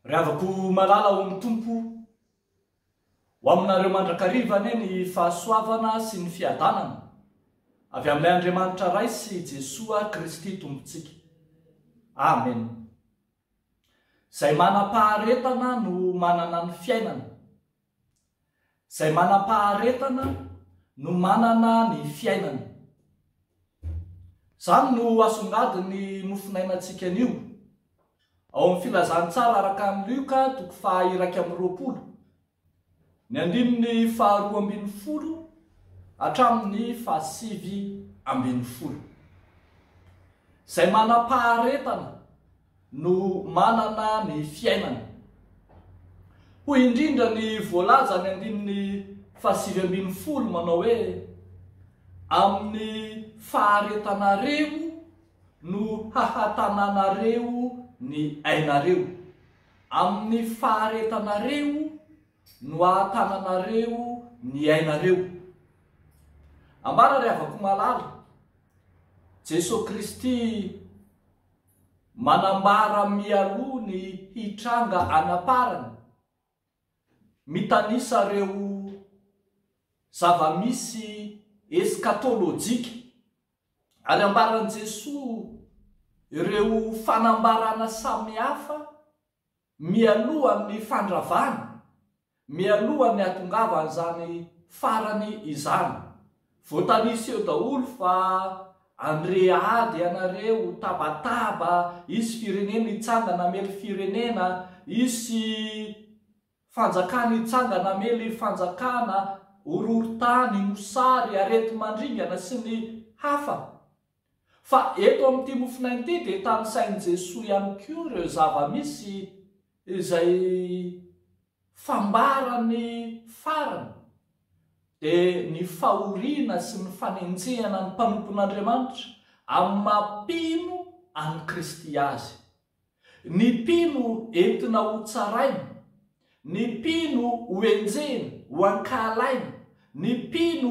Ry havako malala ao amin'ny Tompo, ho aminareo mandrakariva anie ny fahasoavana sy ny fiadanana avy amin'ilay Andriamanitra Ray sy Jesoa Kristy Tompontsika. Amen. Izay manam-paharetana no manana ny fiainana. Izay manam-paharetana no manana ny fiainana. Izany no asongadin'ny mofonainantsika anio. Ao amin'ny Filazantsara araka an'i Lioka, toko faha iraika amby roapolo, Ny andininy faharoa ambin'ny folo hatramin'ny fahasivy ambin'ny folo. Izay manam-paharetana no manana ny fiainana. Hoy indrindra ny voalaza ny andininy fahasivy ambin'ny folo manao hoe, Amin'ny faharetanareo no hahatananareo ny ainareo. Amin'ny faharetanareo no ahatananareo ny ainareo. Ambara ry havako malala, Jesoa Kristy manambara mialoha ny hitranga an'amparany, mitanisa ireo zava-misy eskatolojika. Ary ambaran'i Jesoa ireo fanambarana samihafa mialohan'ny fandravana, mialohan'ny hatongavan'izany farany izany. Voatanisa eo daholo fa andre ady ianareo, tabataba, hisy firenena hitsangana hamely firenena, hisy Fanjakana hitsangana hamely fanjakana, horohorontany, mosary, areti-mandringana sy ny hafa. Fa eto amin'ity mofon'aina ity dia tanisain'i Jesoa ihany koa ireo zava-misy izay fambaran'ny farany dia ny fahoriana sy ny fanenjehana ny mpanompon'Andriamanitra amin'ny maha mpino an'i Kristy azy. Ny mpino entina ho tsaraina, ny mpino ho enjehina, ho ankahalaina, ny mpino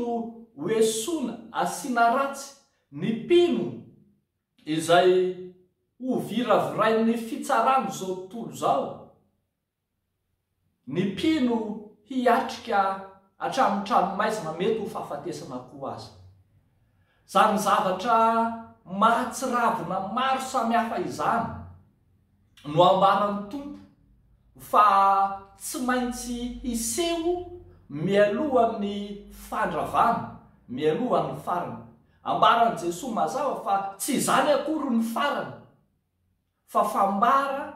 ho esoina, asiana ratsy, ny mpino izay hoviravirain'ny fitsarana izao tontolo izao. Ny mpino hiatrika hatramin'ny tranomaizina mety ho fahafatesana koa aza. Izany zavatra mahatsiravina maro samihafa izany no ambaran'ny Tompo fa tsy maintsy hiseho mialohan'ny fandravana, mialohan'ny farany. Ambaran'i Jesoa mazava fa tsy izany akory ny farany fa fambara.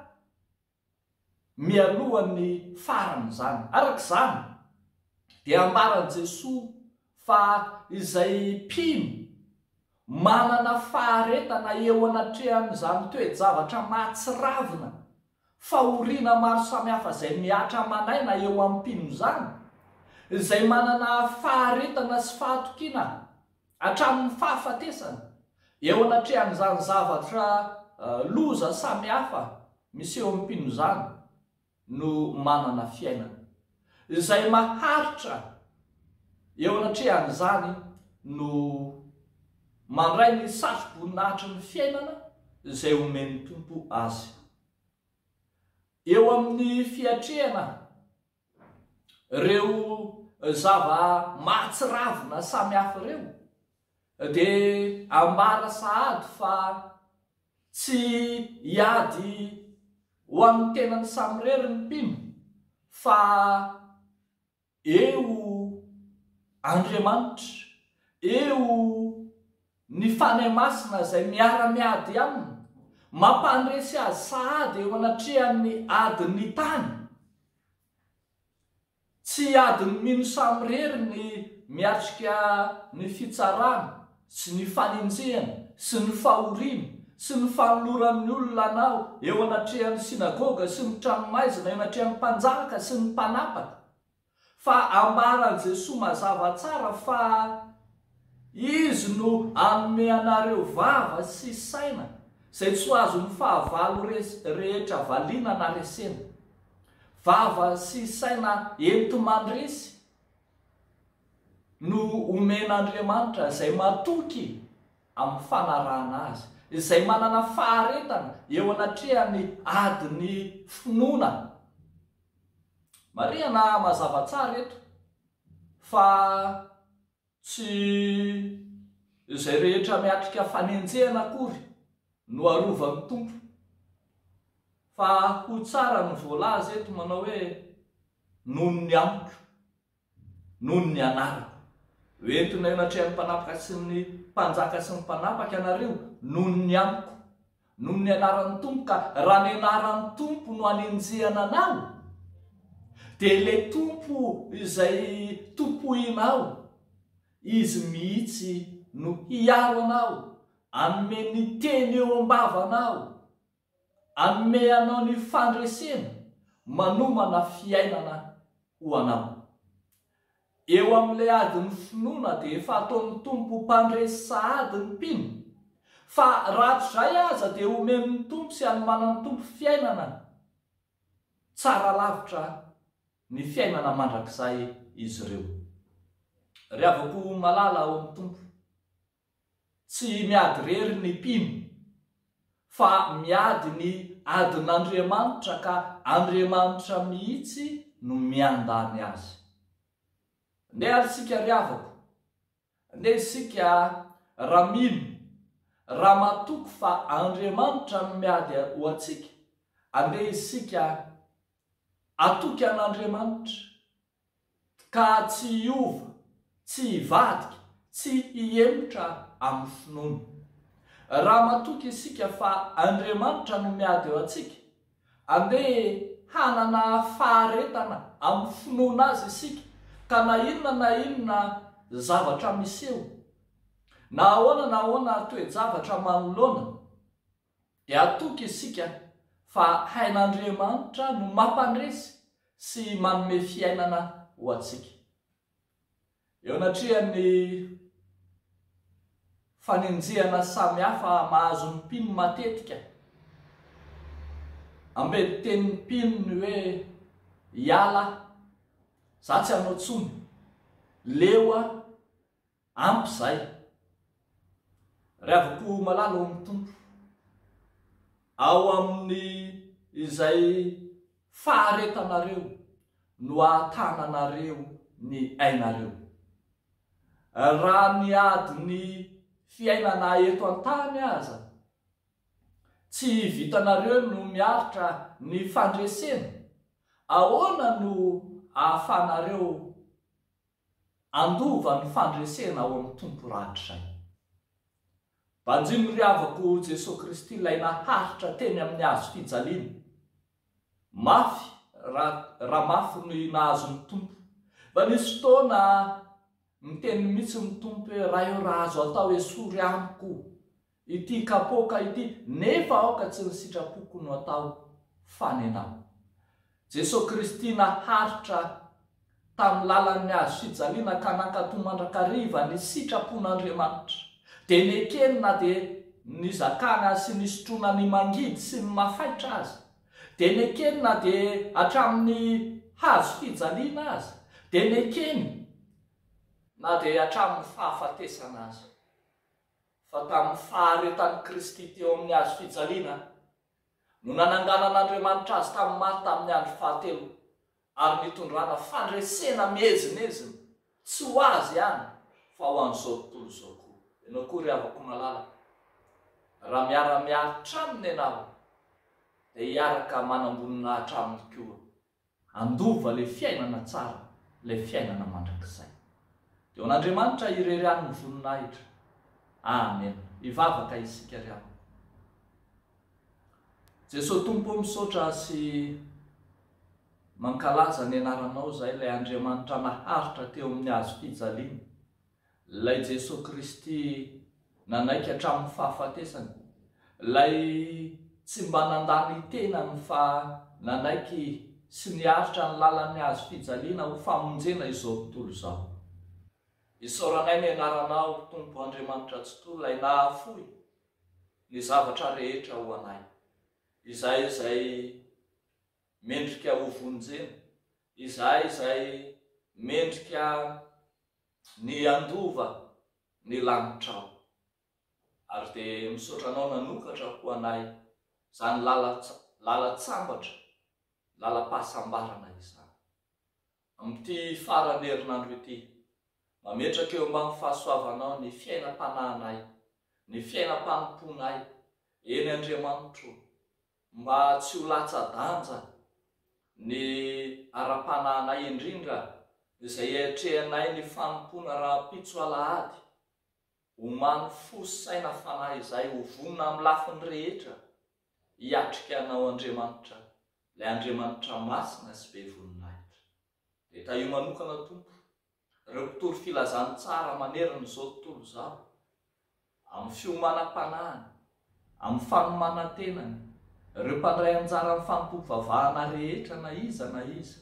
mialoha ny faran'izany. Araka izany, dia ambaran'i Jesoa fa izay mpino manana faharetana eo anatrehan'izany toe-javatra mahatsiravina, fahoriana maro samihafa izay mihatra aman'aina eo amin'ny mpino izany, izay manana faharetana sy fahatokiana, Hatramin'ny fahafatesana. Eo anatrehan'izany zavatra loza samihafa miseho amin'ny mpino izany no manana fiainana. Izay maharitra eo anatrehan'izany no mandray ny satroboninahitry ny fiainana izay omen'ny Tompo azy. Eo amin'ny fiatrehana Ireo zava-mahatsiravina samihafa ireo dia ambara sahady fa tsy hiady ho an'ny tenany samirery ny mpino fa eo Andriamanitra, eo Ny Fanahy Masina izay miara-miady aminy, mampandresy azy sahady eo anatrehan'ny adin'ny tany. Tsy adin'ny mino samirery ny miatrika ny fitsarana sy ny fanenjehana sy ny fahoriana sy ny fanoloran'ny olona anao eo anatrehan'ny synagoga sy ny tranomaizina, eo anatrehan'ny mpanjaka sy ny mpanapaka. Fa ambaran'i Jesoa mazava tsara fa Izy no hanome anareo vava sy saina izay tsy ho azon'ny fahavalo rehetra valiana na resena. Vava sy saina enti-mandresy no omen'Andriamanitra izay matoky amin'ny fanarahana Azy, izay manana faharetana eo anatrehan'ny adin'ny finoana Marihana mazava tsara eto fa tsy izay rehetra miatrika fanenjehana akory no arovan'ny Tompo. Fa ho tsara ny voalaza eto manao hoe noho ny amiko. Noho ny anarako. Ho entina eo anatrehan'ny mpanapaka sy ny mpanjaka sy ny mpanapaka ianareo noho ny amiko. Noho ny anaran'ny Tompo ka raha ny anaran'ny Tompo no anenjehana anao, dia ilay Tompo izay tompoinao, Izy mihitsy no hiaro anao, hanome ny teny eo am-bavanao. Hanome anao ny fandresena manomana fiainana ho anao. Eo amin'ilay adin'ny finoana dia efa ataon'ny Tompo mpandresy sahady ny mpino, fa raha tsy izay aza dia omen'ny Tompo sy hanomanan'ny Tompo fiainana tsara lavitra ny fiainana mandrakizay izy ireo. Ry havako malala ao amin'ny Tompo. Tsy miady irery ny mpino, fa miady ny adin'Andriamanitra ka Andriamanitra mihitsy no miandany azy. Ndeha ary isika ry havako, ndeha isika raha mino, raha matoky fa Andriamanitra no miady ho antsika, andeha isika hatoky an'Andriamanitra. Ka tsy hiova, tsy hivadika, tsy hihemotra amin'ny finoana. Raha matoky isika fa Andriamanitra no miady eo antsika, andeha hanana faharetana amin'ny finoana Azy isika, ka na inona na inona zavatra miseho, na ahoana na ahoana toe-javatra manoloana, Dia hatoky isika fa hain'Andriamanitra no mampandresy sy manome fiainana ho antsika. Eo anatrehan'ny fanenjehana samihafa mahazo ny mpino matetika, ambedin'ny tenin'ny mpino ny hoe iala, za tsy hanao tsony, leo aho, Ampy izay. Ry havako malala ao amin'ny Tompo, ao amin'ny izay faharetanareo no ahatananareo ny ainareo. Raha ny adin'ny fiainana eto an-tany aza tsy vitanareo no miaritra ny fandresena, ahoana no ahafanareo Andova ny fandresena ao amin'ny Tompo rahatrizay. Banjino ry havako o Jesoa Kristy ilay naharitra teny amin'ny hazo fijaliana. Mafy raha raha mafy ny nahazo ny Tompo. Mba nisy fotoana niteny mihitsy ny Tompo hoe, Ray o raha azo atao esory amiko Ity kapoaka ity nefa aoka tsy ny sitrapoko no atao fa ny anao. Jesoa Kristy naharitra tamin'ny lalan'ny hazo fijaliana ka nankato mandrakariva ny sitrapon'Andriamanitra. Dia nekeny na dia nizakana azy sy nisotroana ny mangidy sy ny mafaitra aza. Dia nekeny na dia hatramin'ny hazo fijaliana aza. Dia nekeny na dia hatramin'ny fahafatesana aza. Fa tamin'ny faharetan'i Kristy teo amin'ny hazo fijaliana no nananganan'Andriamanitra azy tamin'ny maty tamin'ny andro fahatelo, ary nitondrana fandresena miezinezina, tsy ho azy ihany, fa ho an'izao tontolo izao koa. Ianao koa ry havako malala, raha miara-miaritra aminy ianao, dia hiaraka manamboninahitra aminy koa Handova ilay fiainana tsara, ilay fiainana mandrakizay. Dia ho an'Andriamanitra irery any ny voninahitra. Amena. Hivavaka isika ry havana. Jesoa Tompo ô misaotra sy mankalaza ny anaranao izahay, ilay Andriamanitra naharitra teo amin'ny hazo fijaliana. Ilay Jesoa Kristy nanaiky hatramin'ny fahafatesany, Ilay tsy mba nandà ny tenany fa nanaiky sy niaritra ny lalan'ny hazo fijaliana ho famonjena izao tontolo izao. Isaoranay ny Anaranao, Tompo Andriamanitra Tsitoha, Ilay nahafoy ny zavatra rehetra ho anay, Izahay izay mendrika hovonjena, Izahay izay mendrika Ny handova ny lanitrao. Ary dia misaotra anao nanokatra ho anay izany lalan-tsambatra, lalam-pahasambarana izany. Amin'ity faran'ny herinandro ity, mametraka eo ambany fahasoavanao ny fiainam-panahinay, ny fiainam-panompoanay, eny Andriamanitro o. Mba tsy ho latsa-danja ny ara-panahinay indrindra izay iatrehanay ny fanompoana rahampitso alahady, omano fo sy saina fanahy izay ho vonona amin'ny lafiny rehetra hiatrika Anao Andriamanitra, ilay Andriamanitra masina sy be voninahitra. Dia tahio manokana Tompo ireo mpitory filazany tsara manerana izao tontolo izao, amin'ny fiomanam-panahiny, amin'ny fanomanan-tenany, ireo mpandray anjara amin'ny fanompoam-pivavahana rehetra na iza na iza,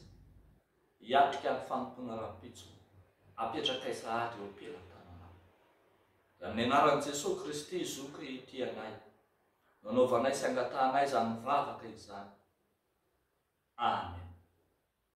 hiatrika ny fanompoana rahampitso apetrakay sahady eo am-pelan-tananao. Dia amin'ny anaran'i Jesoa Kristy Zoky tia anay, nanaovanay sy angatahanay izany vavaka izany. Amen.